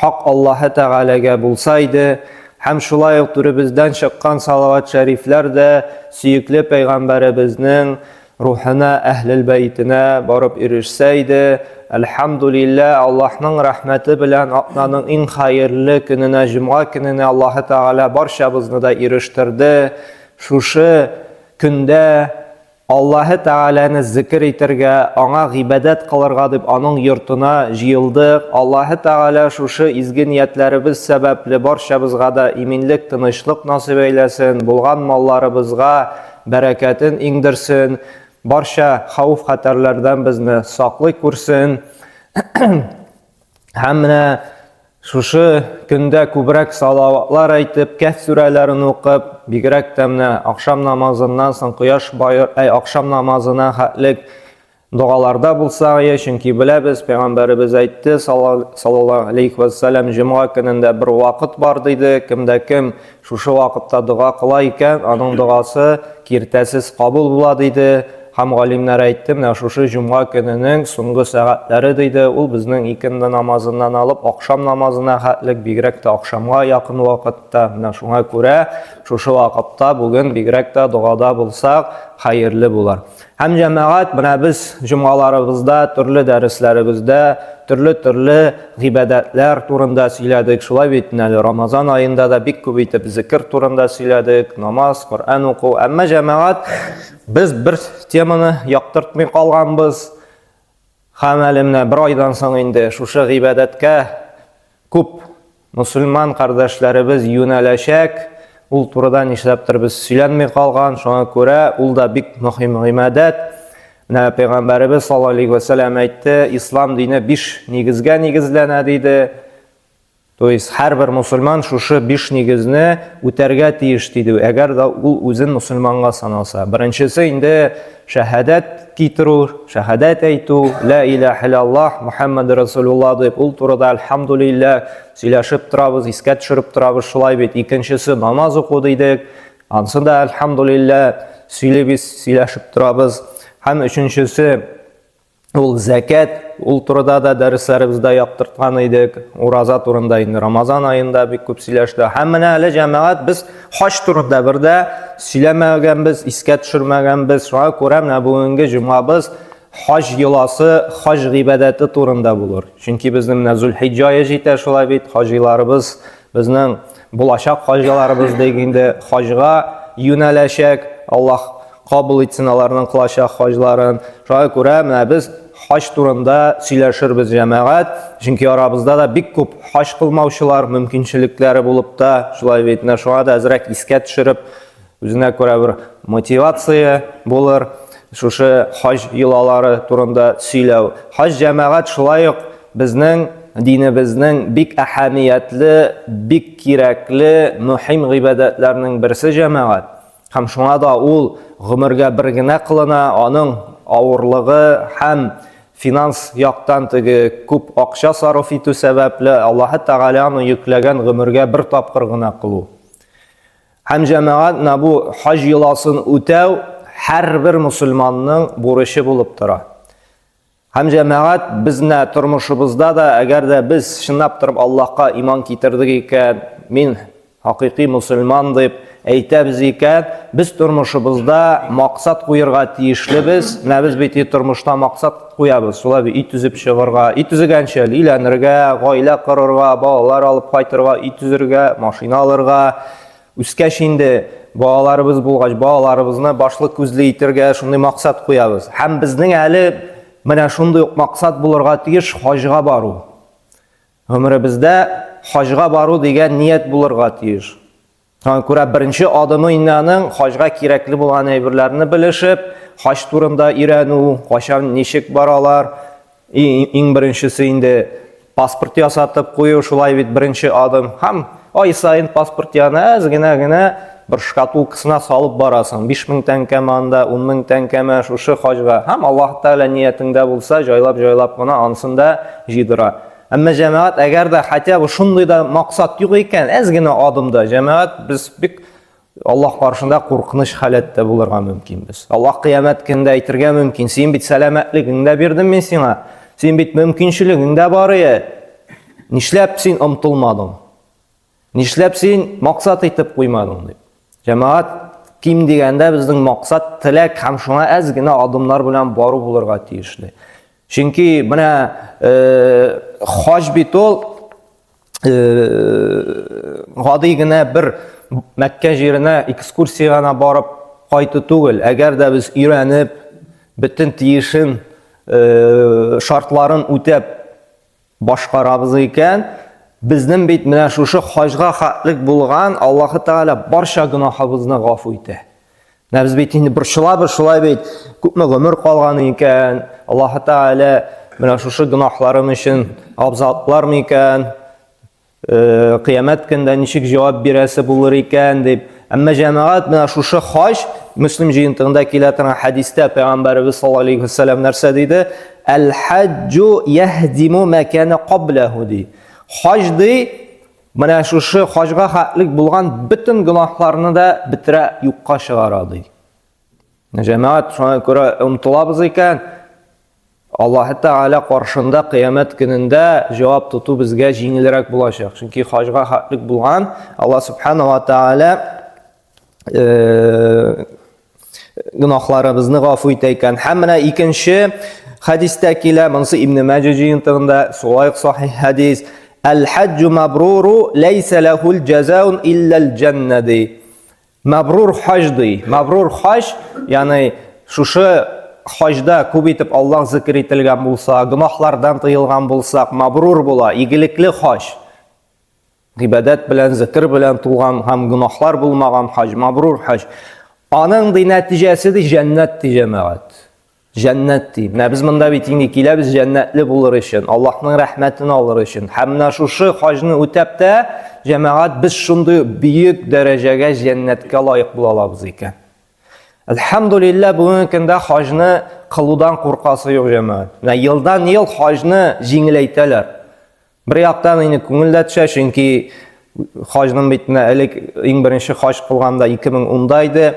Хак Аллаһы Тәгаләгә булса иде, һәм шулай ук түребездән чыккан салават-шәрифләр дә сөекле пәйгамбәребезнең рухына, Әһлел бәйтенә барып ирешсә иде, әлхәмдүлиллә, Аллаһның рәхмәте белән атнаның иң хаерле көненә, җомга көненә Аллаһы Тәгалә барчабызны да ирештерде, шушы көндә, Аллаһы Тәгаләне зикер итәргә, Аңа гыйбадәт кылырга дип Аның йортына җыелдык. Аллаһы Тәгалә шушы изге ниятләребез сәбәпле барчабызга да иминлек, тынычлык насыйп әйләсен, булган малларыбызга бәрәкәтен иңдерсен, барча хәвеф-хәтәрләрдән безне саклый күрсен һәм менә Шушы көндә күбрәк салаватлар әйтеп, Кәһф сүрәләрен укып, бигрәк тә менә ахшам намазыннан соң кояш баер, әй ахшам намазына хәтлек догаларда булсак ие, чөнки беләбез, пәйгамбәребез әйтте, саллаллаһу алейхи вәссәлам, җомга көнендә бер вакыт бар диде, кемдә кем Шушы вакытта дога кыла икән, аның догасы киртәсез кабул була, диде һәм галимнәр әйтте, менә шушы җомга көненең соңгы сәгатьләре, диде, ул безнең икенде намазыннан алып акшам намазына хәтлек, бигрәк тә акшамга якын вакытта, менә шуңа күрә шушы вакытта бүген бигрәк тә догада булсак, хәерле булыр. Һәм җәмәгать менә без җомгаларыбызда, төрле дәресләребездә, төрле-төрле гыйбадәтләр турында сөйләдек. Шулай бит, әле Рамазан аенда да бик күп итеп зикер турында сөйләдек, намаз, Коръән уку. Әмма җәмәгать без бер теманы яктыртмый калганбыз. Һәм әле менә бер айдан соң инде шушы гыйбадәткә күп мөселман кардәшләребез юнәләчәк. Ул турыда нишләптер без сөйләнми калган, шуңа күрә ул да бик мөһим гыйбадәт. Менә пәйгамбәребез саллаллаһу алейһи ва сәлләм әйтте, ислам дине биш нигезгә нигезләнә диде. То есть һәрбер мусульман шушы биш нигезне үтәргә тиеш диде, әгәр дә ул үзен мусульманга санаса. Беренчесе инде шәһадәт китерү, шәһадәт әйтү, ла илаһ иллаллаһ, Мухаммад Расулулла дип, ул турыда альхамдулилла сөйләшеп торабыз, искә төшереп торабыз, шулай бит. Икенчесе намаз уку дидек, ансын да альхамдулилла сөйлибез, сөйләшеп торабыз. Һәм өченчесе Ул зәкәт, ул турыда да дәресләребездә яктырткан идек. Ураза турында инде Рамазан аенда бик күп сөйләште. Һәм менә әле җәмәгать без хаҗ турында бер дә сөйләмәгәнбез, искә төшермәгәнбез. Шуңа күрә менә бүгенге җомгабыз хаҗ йоласы, хаҗ гыйбадәте турында булыр. Чөнки безнең менә Зулхиҗҗа ае җитә шулай бит, хаҗиларыбыз безнең Булачак хаҗиларыбыз диик инде, хаҗга юнәләчәк, Аллаһ кабул итсен аларның кылачак хаҗларын. Шуңа күрә менә без хаҗ турында сөйләшербез, җәмәгать, чөнки арабызда да бик күп хаҗ кылмаучылар мөмкинчелекләре булып та, шулай бит, менә шуңа да әзрәк искә төшереп, Үзенә күрә бер мотивация булыр, шушы хаҗ йолалары турында сөйләү. Хаҗ җәмәгать шулай ук безнең динебезнең бик әһәмиятле, бик кирәкле, мөһим гыйбадәтләрнең берсе җәмәгать. Һәм шуңа да ул гомергә бер генә кылына, аның авырлыгы һәм финанс яктан теге күп акча сарыф итү сәбәпле, Аллаһы Тәгалә аны йөкләгән гомергә бер тапкыр гына кылу. Һәм җәмәгать на бу хаҗ йоласын үтәү һәрбер мусульманның бурычы булып тора. Һәм җәмәгать безне тормышыбызда да, әгәр дә без чынлап торып Аллаһка иман китердек икән, мин хакыйкый мусульман дип әйтәбез икән, без тормышыбызда максат куерга тиешлебез. Менә без бит тормышта максат Куябыз, шулай бит, өй төзеп чыгарга, өй төзегәнче әле өйләнергә, гаилә корырга, балалар алып кайтырга, өй төзергә, машина алырга, үскәч инде балаларыбыз булгач, балаларыбызны башлы күзле итергә шундый максат куябыз. Һәм безнең әле менә шундый ук максат булырга тиеш хаҗга бару. Гомеребездә хаҗга бару дигән ният булырга тиеш. Шуңа күрә беренче адымы инде аның хаҗга кирәкле булган әйберләрне белешеп, хаҗ турында өйрәнү, кайчан ничек баралар. Иң беренчесе инде паспорт ясатып кую, шулай бит беренче адым. Һәм ай саен паспорт янына әз генә генә бер шкатулкасына салып барасың. 5000 тәңкәме анда, 10000 тәңкәме шушы хаҗга. Һәм Аллаһ Тәгалә ниятеңдә булса, җайлап-җайлап кына ансын да җыйдыра. Әмма җәмәгать, әгәр дә хотя бы шундый да максат юк икән, әз генә адымда җәмәгать без бик Аллаһ каршында куркыныч халәттә булырга мөмкин без. Аллаһ кыямәт көндә әйтергә мөмкин, син бит сәламәтлегеңне дә бирдем мин сиңа. Син бит мөмкинчелегең дә бар ие. Нишләп син омтылмадың? Нишләп син максат итеп куймадың дип. Җәмәгать ким дигәндә безнең максат теләк һәм шуңа әз генә адымнар белән бару булырга тиешле. Чөнки менә э, хаҗ бит ул э, гади генә бер Мәккә җиренә экскурсия гына барып кайту түгел. Әгәр дә без өйрәнеп, бөтен тиешен э, шартларын үтәп Башкарабыз икән, безнең бит менә шушы хаҗга хәтлек булган Аллаһы Тәгалә барча гөнаһыбызны гафу итә. Менә без бит инде борчылабыз шулай бит, күпме гомер калган икән, Аллаһы Тәгалә менә шушы гөнаһларым өчен абзатлар микән? Кыямәт көндә ничек җавап бирәсе булыр икән дип. Әмма җәмәгать менә шушы хаҗ Муслим җыентыгында килә торган хәдистә пәйгамбәребез саллаллаһу алейхи вәсәлләм нәрсә диде? Әл-хаҗҗу яһдиму ма кана каблаху ди. Хаҗ ди, менә шушы хаҗга хәтлек булган бөтен гөнаһларны да бетерә, юкка чыгара ди. Җәмәгать шуңа күрә омтылабыз икән, Аллаһы Тәгалә каршында кыямәт көнендә җавап тоту безгә җиңелрәк булачак. Чөнки хаҗга хаклык булган Алла Субхана ва Тәгалә э, гөнаһларыбызны гафу итә икән. Һәм менә икенче хәдистә килә, монысы Ибн Мәҗә җыентыгында, Сулайк сахих хәдис. Әл-хаҗҗу мабруру ләйсә ләһул җазаун илләл җәннә ди. Мәбрур хаҗ ди. Мәбрур хаҗ, ягъни шушы хаҗда күп итеп Аллаһ зикер ителгән булса, гөнаһлардан тыелган булсак, мәбрур була, игелекле хаҗ. Гыйбадәт белән, зикер белән тулган һәм гөнаһлар булмаган хаҗ, мәбрур хаҗ. Аның ди нәтиҗәсе ди җәннәт ди җәмәгать. Җәннәт ди. Менә без монда бит инде киләбез җәннәтле булыр өчен, Аллаһның рәхмәтен алыр өчен. Һәм менә шушы хаҗны үтәп тә, җәмәгать, без шундый бөек дәрәҗәгә җәннәткә лаек була алабыз икән. Әлхәмдулилла, бүгенге көндә хаҗны кылудан куркасы юк җәмәгать. Менә елдан-ел хаҗны җиңеләйтәләр. Бер яктан инде күңел дә төшә, чөнки хаҗның бит менә элек иң беренче хаҗ кылганда 2010да иде.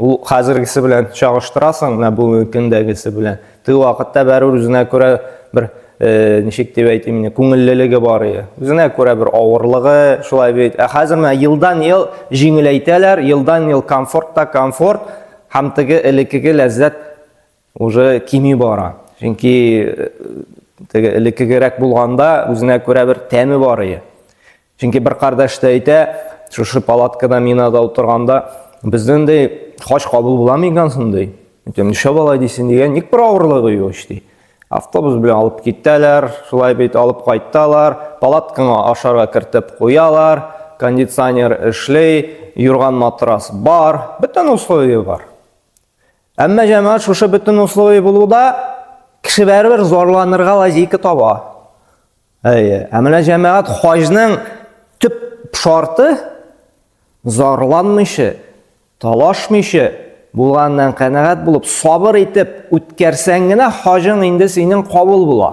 Ул хәзергесе белән чагыштырасың, менә бүгенге көндәгесе белән. Теге вакытта бәрүр үзенә күрә бер э, ничек дип әйтим инде, күңеллелеге бар иде. Үзенә күрә бер авырлыгы, шулай бит. Ә хәзер менә елдан ел җиңеләйтәләр, елдан ел комфорт та комфорт һәм теге элеккеге ләззәт Уже кими бара. Чөнки теге элеккегерәк булганда үзенә күрә бер тәме бар иде. Чөнки бер кардәш тә әйтә, шушы палаткада минада утырганда, безнең дә хаҗ кабул була микән соң ди. Әйтәм, нишләп болай дисең дигән, ник бер авырлыгы юк ич ди. Автобус белән алып китәләр, шулай бит алып кайталар, палаткаңа ашарга кертеп куялар, кондиционер эшли, юрган матрас бар, бөтен условия бар. Әмма җәмәгать шушы бөтен условие булуда кеше бәрбер зарланырга лазейка таба. Әйе, ә менә җәмәгать хаҗның төп шарты зарланмыйча, талашмыйча булганнан канәгать булып, сабыр итеп үткәрсәң генә хаҗың инде синең кабул була.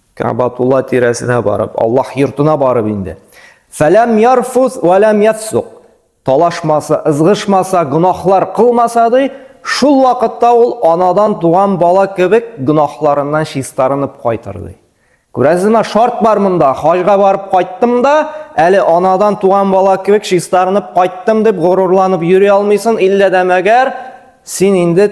Кәбатулла тирәсенә барып, Аллаһ йортына барып инде. Фәләм ярфус вәләм яфсук. Талашмаса, ызгышмаса, гөнаһлар кылмаса ди, шул вакытта ул анадан туган бала кебек гөнаһларыннан чистарынып кайтыр ди. Күрәсезме, шарт бар монда. Хаҗга барып кайттым да, әле анадан туган бала кебек чистарынып кайттым дип горурланып йөри алмыйсын, иллә дә мәгәр син инде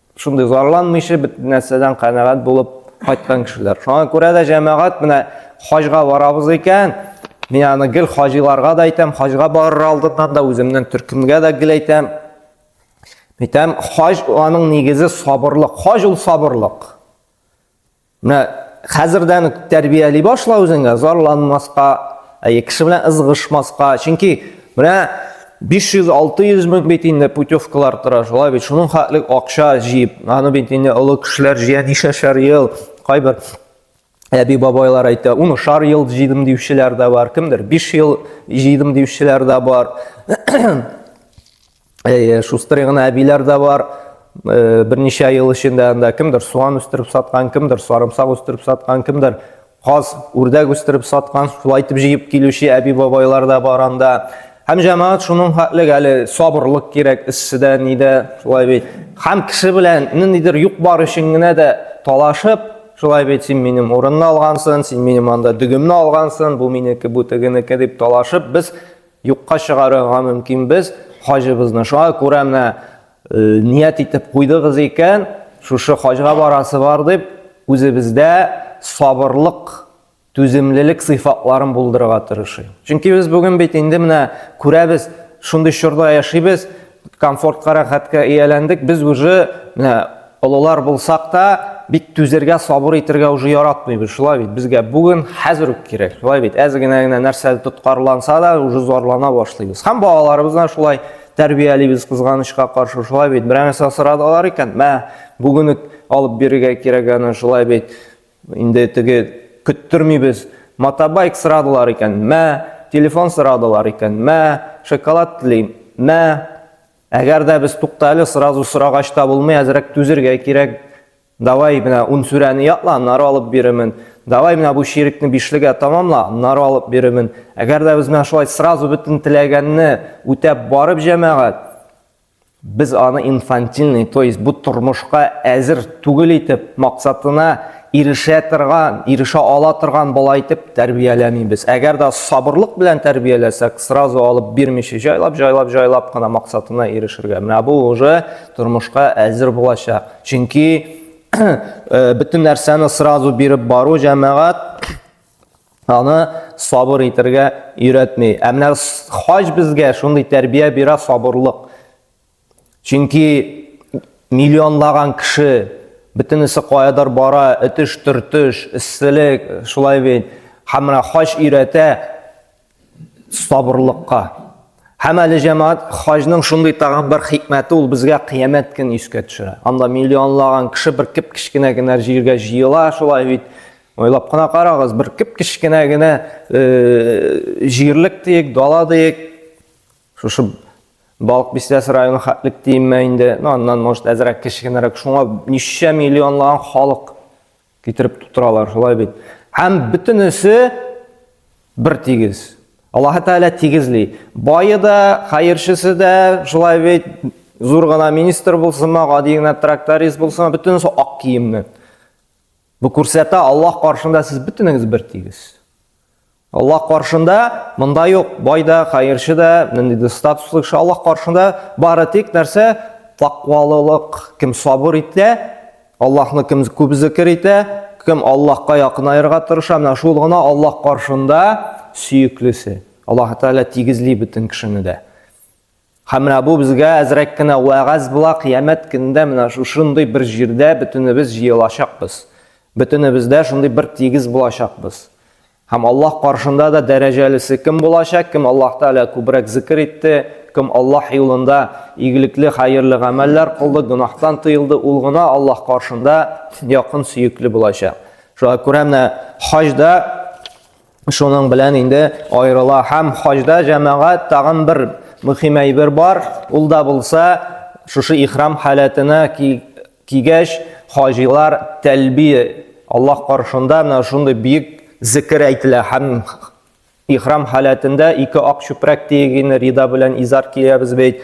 шундый зарланмыйча бит нәрсәдән канәгать булып кайткан кешеләр. Шуңа күрә дә җәмәгать менә хаҗга барабыз икән, мин аны гел хаҗиларга да әйтәм, хаҗга барыр алдыннан да үземнең төркемгә дә гел әйтәм. Әйтәм, хаҗ аның нигезе сабырлык. Хаҗ ул сабырлык. Менә хәзердән үк тәрбияли башла үзеңә, зарланмаска, әйе, кеше белән ызгышмаска. Чөнки менә 500-600 мең бит инде путевкалар тора, шулай бит. Шуның хәтлек акча җыеп, аны бит инде олы кешеләр җыя нишәшәр ел, кайбер әби бабайлар әйтә, уны шар ел җыйдым диючеләр дә бар, кемдер 5 ел җыйдым диючеләр дә бар. Әйе, шустрый гына әбиләр дә бар. Э, берничә ел эчендә анда кемдер суан үстереп саткан, кемдер сарымсак үстереп саткан, кемдер каз, үрдәк үстереп саткан, шулай итеп җыеп килүче әби-бабайлар да бар анда. Һәм җәмәгать шуның хәтлек әле сабырлык кирәк эшчедә, нидә, шулай бит. Һәм кеше белән ниндидер юк бар өчен генә дә талашып, шулай бит син минем урынны алгансың, син минем анда дөгемне алгансың, бу минеке, бу тегенеке дип талашып, без Юкка чыгарырга мөмкин без хаҗыбызны. Шуңа күрә менә ният итеп куйдыгыз икән, шушы хаҗга барасы бар дип, үзебездә сабырлык, түземлелек сыйфатларын булдырырга тырышыйк. Чөнки без бүген бит инде менә күрәбез, шундый чорда яшибез, комфортка, рәхәткә ияләндек. Без уже менә олылар булсак та, бик түзергә, сабыр итергә уже яратмыйбыз. Шулай бит, безгә бүген хәзер үк кирәк. Шулай бит, әз генә генә нәрсә тоткарланса да, уже зарлана башлыйбыз. Һәм балаларыбызны шулай тәрбиялибез кызганычка каршы. Шулай бит, берәр нәрсә сорадылар икән, мә, бүген үк алып бирергә кирәк аны, шулай бит. Инде теге көттермибез, мотобайк сырадылар икән, мә, телефон сырадылар икән, мә, шоколад телим, мә. Әгәр дә без тукта әле, сразу сорагач та булмый, әзрәк түзергә кирәк. Давай, менә ун сүрәне ятла, аннары алып бирермен. Давай, менә бу чирекне бишлегә тамамла, аннары алып бирермен. Әгәр дә без менә шулай сразу бөтен теләгәнне үтәп барып, җәмәгать, Без аны инфантильный, то есть бу тормышка әзер түгел итеп, максатына ирешә торган, ирешә ала торган бала итеп тәрбияләмибез. Әгәр дә сабырлык белән тәрбияләсәк, сразу алып бирмичә, җайлап, җайлап, җайлап кына максатына ирешергә. Менә бу уже тормышка әзер булачак. Чөнки э, бөтен нәрсәне сразу биреп бару җәмәгать Аны сабыр итергә өйрәтми. Ә менә хаҗ безгә шундый тәрбия бирә сабырлык. Чөнки миллионлаган кеше бөтенесе каядыр бара, этеш-төртеш, эсселек, шулай бит. Һәм менә хаҗ өйрәтә, сабырлыкка. Һәм әле җәмәгать хаҗның шундый тагын бер хикмәте ул безгә кыямәт көн искә төшерә. Анда миллионлаган кеше бер кеп кечкенә генә җиргә җыела, шулай бит. Ойлап кына карагыз, бер кеп кечкенә генә э, җирлек диек, дала диек. Шушы Балык бистәс районы хәтлек диемме инде, ну аннан может әзрәк кечкенәрәк. Шуңа ничә миллионлаган халык Китереп тутыралар, шулай бит. Һәм бөтенесе бер тигез. Аллаһы Тәгалә тигезли. Бае да, хәерчесе дә, шулай бит, зур гына министр булсынмы, гади генә тракторист булсынмы, бөтенесе ак киемне. Бу күрсәтә, Аллаһ каршында сез бөтенегез бер тигез. Аллаһ каршында монда юк, бай да, хәерче дә, нинди дә статуслы кеше Аллаһ каршында бары тик нәрсә тәкъвалылык, кем сабыр итә, Аллаһны кем күп зикер итә, кем Аллаһка якынаерга тырыша, менә шул гына Аллаһ каршында сөеклесе. Аллаһ Тәгалә тигезли бөтен кешене дә. Һәм менә бу безгә әзрәк кенә вәгазь була, кыямәт көнендә менә шушындый бер җирдә бөтенебез җыелачакбыз. Бөтенебездә шундый бер тигез булачакбыз. Һәм Аллаһ каршында да дәрәҗәлесе кем булачак, кем Аллаһ Тәгалә күбрәк зикр итте, кем Аллаһ юлында игелекле, хәерле гамәлләр кылды, гөнаһтан тыелды, ул гына Аллаһ каршында якын сөекле булачак. Шуңа күрә менә хаҗда Шуның белән инде аерыла һәм хаҗда җәмәгать тагын бер мөһим әйбер бар, ул да булса шушы ихрам халәтенә кигәч хаҗилар тәлбия Аллаһ каршында менә шундый бик зикер әйтелә һәм ихрам халәтендә ике ак чүпрәк тиегене рида белән изар киябез бит.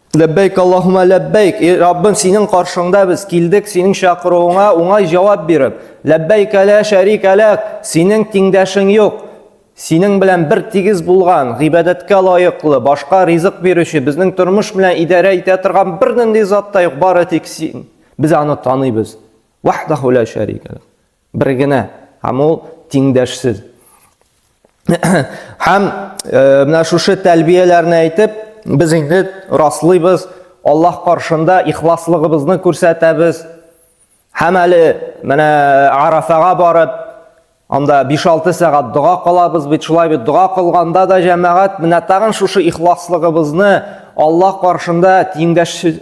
Ләббәйк Аллаһума ләббәйк. Эй Раббым, синең каршыңда без килдек, синең чакыруыңа уңай җавап биреп. Ләббәйк ла шәрика ләк. Синең тиңдәшең юк. Синең белән бер тигез булган, гыйбадәткә лаеклы, башка ризык бирүче, безнең тормыш белән идарә итә торган бернинди зат та юк, бары тик син. Без аны таныйбыз. Ваһдаху ла шәрика ләк. Бер генә, һәм ул тиңдәшсез. Һәм э, менә шушы тәлбияләрне әйтеп, без инде раслыйбыз, Аллаһ каршында ихласлыгыбызны күрсәтәбез. Һәм әле менә Арафага барып, анда 5-6 сәгать дога кылабыз бит, шулай бит дога кылганда да җәмәгать менә тагын шушы ихласлыгыбызны Аллаһ каршында тиңдәшсез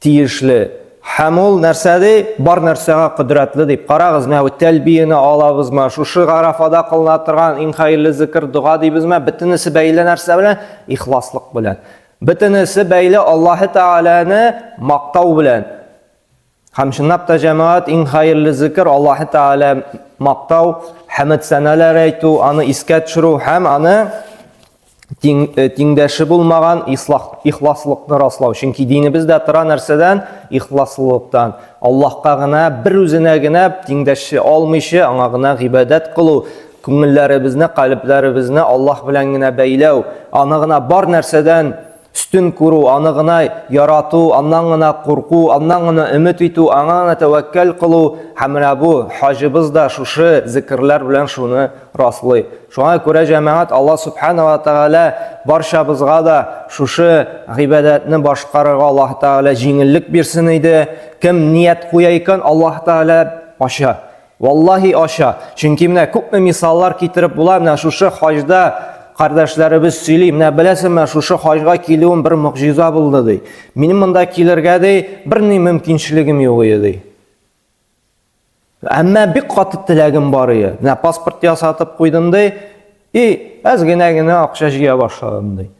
Тиешле. Һәм ул нәрсә ди? Бар нәрсәгә кодрәтле дип. Карагыз, менә бу тәлбияне алабызмы, шушы Гарәфада кылына торган иң хәерле зикер, дога дибезме, бөтенесе бәйле нәрсә белән? Ихласлык белән. Бөтенесе бәйле Аллаһы Тәгаләне мактау белән. Һәм чынлап та җәмәгать иң хәерле зикер Аллаһы Тәгалә мактау, хәмд сәналәр әйтү, аны искә төшерү һәм аны Э, тиңдәше булмаган ихласлыкны раслау. Чөнки динебез дә тора нәрсәдән? Ихласлылыктан. Аллаһка гына, бер үзенә генә тиңдәше алмыйча, аңа гына гыйбадәт кылу, күңелләребезне, калебләребезне Аллаһ белән генә бәйләү, аны гына бар нәрсәдән Өстен күрү, аны гына ярату, аннан гына курку, аннан гына өмет итү, аңа гына тәвәккәл кылу, һәм менә бу хаҗыбыз да шушы зекерләр белән шуны раслый. Шуңа күрә, җәмәгать, Алла Сүбхәнә вә Тәгалә барчабызга да шушы гыйбадәтне башкарырга Аллаһ Тәгалә җиңеллек бирсен иде. Кем ният куя икән, Аллаһ Тәгалә ача. Валлаһи ача, чөнки менә күпме мисаллар китереп була, менә шушы хаҗда кардәшләребез сөйли, менә беләсеңме, шушы хаҗга килүем бер могҗиза булды ди. Минем монда килергә ди, берни мөмкинчелегем юк иде ди. Әмма бик каты теләгем бар иде. Менә паспорт ясатып куйдым ди, и әз генә генә акча җыя башладым ди.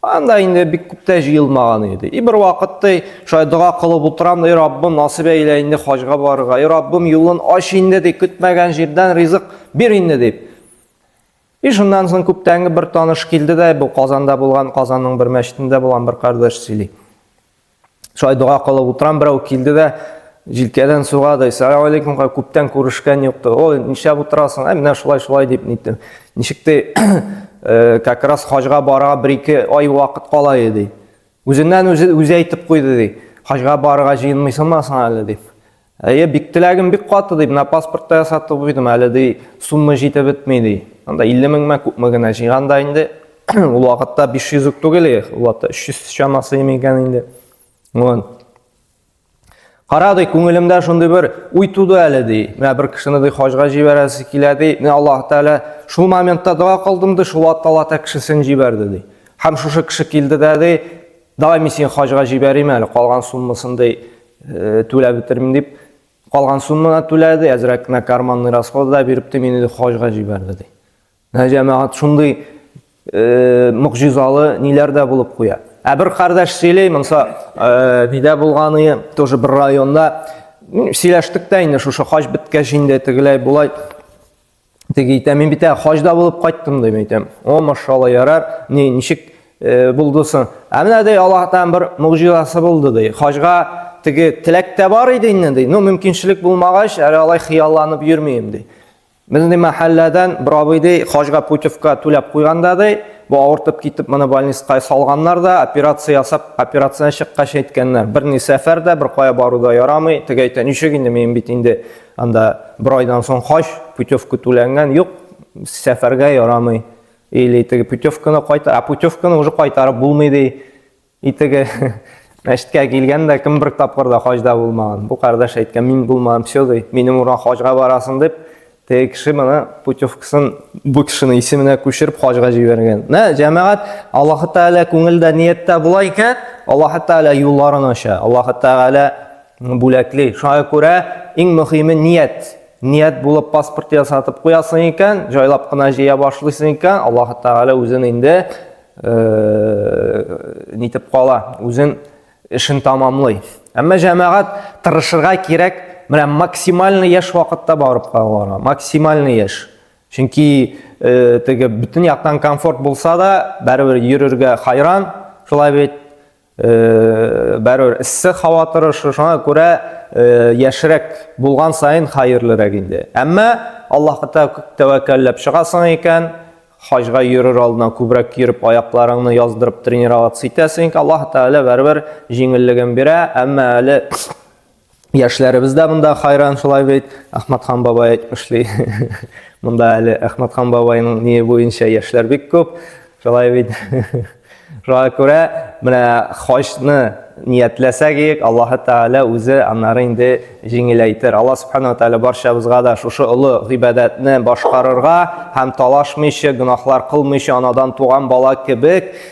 Анда инде бик күптә җыелмаган иде. И бер вакытта шулай дога кылып утырам, и Раббым, насыйп әйлә инде хаҗга барырга. И Раббым, юлын ач инде дип, көтмәгән җирдән ризык бир инде дип. И шуннан соң күптәнге бер таныш килде дә, бу Казанда булган, Казанның бер мәчетендә булган бер кардәш сөйли. Шулай дога кылып утырам, берәү килде дә, җилкәдән сорады, Сәлам алейкум, күптән күрешкән юк. Ой, нишләп утырасың? Ә менә шулай, шулай дип ниттем. Ничек ти, э, как раз хаҗга барырга бер-ике ай вакыт кала иде. Үзеннән үзе үзе әйтеп куйды ди. Хаҗга барырга җыенмыйсыңмы соң әле дип. Әйе, бик теләгем бик каты, ди, менә паспортта ясатып куйдым, әле ди, сумма җитеп бетми, ди. Анда 50 меңме, күпме генә җыйганда инде, ул вакытта 500 үк түгел, ул вакытта 300 чамасы икән инде. Вон. Кара ди, күңелемдә шундый бер уй туды әле ди. Менә бер кешене ди хаҗга җибәрәсе килә ди. Менә Аллаһ Тәгалә шул моментта дога кылдым ди, шул вакытта Аллаһ Тәгалә кешесен җибәрде ди. Һәм шушы кеше килде дә ди, Давай мин сине хаҗга җибәрим әле, калган суммасын ди э, түләп бетермим дип, калган сумманы түләде, әзрәк кенә карманный расходы да биреп ди, мине хаҗга җибәрде ди. Менә җәмәгать шундый э, могҗизалы ниләр дә булып куя. Ә бер кардәш сөйли, монса э, нидә булганы, тоже бер районда сөйләштек тә инде шушы хаҗ беткәч инде тегеләй булай Теге әйтә, мин бит ә хаҗда булып кайттым дип әйтәм. О, машалла, ярар. Ни, ничек э, булды соң? Ә менә ди Аллаһтан бер мугҗизасы булды ди. Хаҗга теге теләк тә бар иде инде ди. Ну, мөмкинчелек булмагач, әле алай хыялланып йөрмим ди. Безнең мәхәлләдән бер абый ди, хаҗга путевка түләп куйганда ди, бу авыртып китеп моны больницага салганнар да, операция ясап, операцияне чыккач әйткәннәр. Бер ни сәфәр дә, бер кая бару да ярамый. Теге әйтә, ничек инде мин бит инде Анда бер айдан соң хаҗ, путевка түләнгән, юк, сәфәргә ярамый. Или теге путевканы кайта, а путевканы уже кайтарып булмый ди. И теге мәчеткә килгән дә кем бер тапкыр да хаҗда булмаган. Бу кардәш әйткән, мин булмам, все ди. Минем урын хаҗга барасың дип, теге кеше моны путевкасын бу кешенең исеменә күчереп хаҗга җибәргән. Нә, җәмәгать, Аллаһ Тәгалә күңелдә нияттә була икән, Аллаһ Тәгалә юлларын ача. Аллаһ Тәгалә Бүләкли. Шуңа күрә иң мөһиме ният. Ният булып паспорт ясатып куясың икән, җайлап кына җыя башлыйсың икән, Аллаһ Тәгалә үзен инде нитеп кала, үзен эшен тамамлый. Әмма җәмәгать тырышырга кирәк, менә максимальный яшь вакытта барып калырга, максимальный яшь. Чөнки теге бөтен яктан комфорт булса да, барыбер йөрергә хайран, шулай бит Бәрөр эссе хава торышы, шуңа күрә яшрәк булган сайын хәерлерәк инде. Әмма Аллаһка тәвәккәлләп чыгасың икән, хаҗга йөрер алдына күбрәк йөреп, аякларыңны яздырып тренироваться итәсең икән, Аллаһ Тәгалә бәрбер җиңеллеген бирә, әмма әле Яшьләребез дә монда хайран шулай бит. Әхмәтхан бабай эшли. Монда әле Әхмәтхан бабайның ни буенча яшьләр бик күп. Шулай бит. Шуңа күрә менә хаҗны ниятләсәк ек, Аллаһ Тәгалә үзе аннары инде җиңеләйтер. Аллаһ Субхану Тәгалә барчабызга да шушы олы гыйбадәтне башкарырга һәм талашмыйча, гөнаһлар кылмыйча, анадан туган бала кебек